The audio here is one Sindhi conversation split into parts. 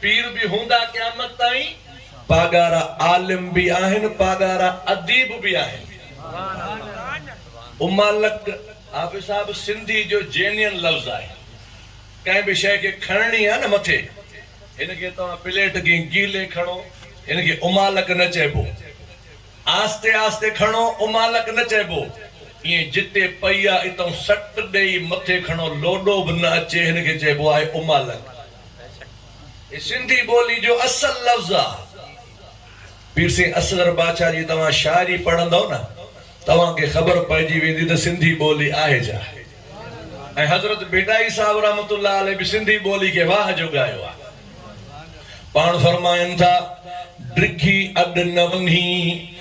پير به هوندا قيامت تائين. پاڳارا عالم به آهن پاڳارا اديب به آهن. امالڪ حافظ صاحب سنڌي جو جينين لفظ آهي ڪنهن به شيء کي کڻڻي آهي نه مٿي هن کي توهان پليٽ کي گيلي کڻو هن کي امالڪ نه چئبو آهستي آهستي کڻو امالڪ نه چئبو ائين جتي پئي آهي اتئون سٽ ڏئي مٿي کڻو لوڏو به نه اچي هن کي چئبو آهي امالڪ. هي سنڌي ٻولي جو اصل لفظ آ. پير سين اصغر باڇا جي توهان شاعري پڙهندؤ نه توهان کي خبر پئجي ويندي ته سنڌي ٻولي آهي ڇا؟ ۽ حضرت ڀٽائي صاحب رحمة الله عليه به سنڌي ٻولي کي واهه جو ڳايو آ. پاڻ فرمائن ٿا، ڊگهي اڏ نه وڃي.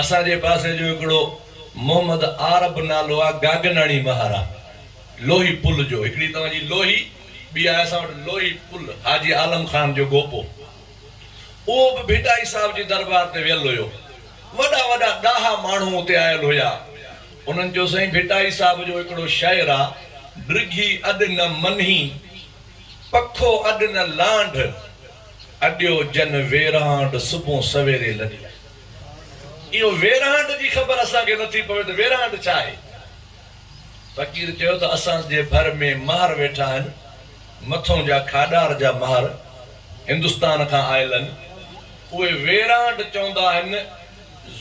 اسان جي پاسي جو هڪڙو محمد عارب نالو آ گاگناڻي مهارا لوهي پل جو هڪڙي توهان جي لوهي ٻي آهي اسان وٽ لوهي پل حاجي عالم خان جو گوپو اهو به ڀٽائي صاحب جي دربار تي ويل هيو وڏا وڏا ڏاها ماڻهو اتي آيل هيا انهن چيو سائين ڀٽائي صاحب جو هڪڙو شعر آ ڊگهي اڏ نه منهي پکو اڏ نه لانڍ اڏيو ڄن ويرانڊ صبح سويري لڏي. اهو ويرانڊ جي خبر اسان کي نٿي پوي ته ويرانڊ ڇا آهي؟ فقير چيو ته اسان جي ڀر ۾ مهر ويٺا آهن، مٿون جا کاڏار جا مهر هندستان کان آيل آهن، اهي ويرانڊ چوندا آهن،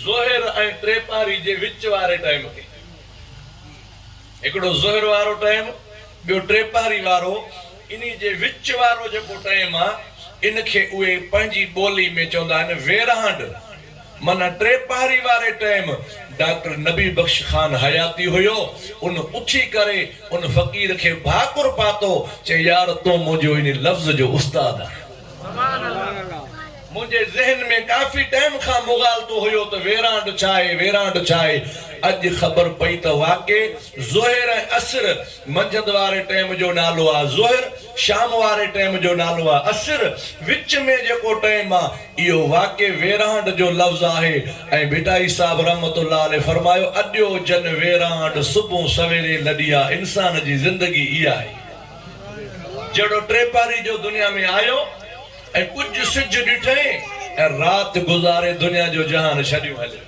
ظهر ۽ ٽي پهري جي وچ واري ٽائيم کي. هڪڙو ظهر وارو ٽائيم، ٻيو ٽي پهري وارو. انهي جي وچ وارو جيڪو ٽئيم آ ان کي اهي پنهنجي ٻولي ۾ چوندا آهن ويرهانڊ معنيٰ ٽي پهري واري ٽئيم ڊاڪٽر نبي بخش خان حياتي هيو ان اٿي ڪري ان فقير کي ڀاڪر پاتو چي يار تون منهنجو انهي لفظ جو استاد آهين. منهنجي ذهن ۾ ڪافي ٽئيم کان مغالطو هيو ته ويرهانڊ ڇا آهي ويرهانڊ ڇا آهي اڄ خبر پئي ته واقعي ظهر ۽ عصر منجهند واري ٽيم جو نالو آ ظهر، شام واري ٽيم جو نالو آ عصر، وچ ۾ جيڪو ٽيم آ اهو واقعي ويرانڊ جو لفظ آهي ۽ ڀٽائي صاحب رحمة الله عليه فرمايو، اڏيو جن ويرانڊ صبح سويري لڏي آ انسان جي زندگي اها ئي آهي جهڙو ٽيپاري جو دنيا ۾ آيو ۽ ڪجهه سج ڏٺئين ۽ رات گذاري دنيا جو جهان ڇڏيون هليو ويو.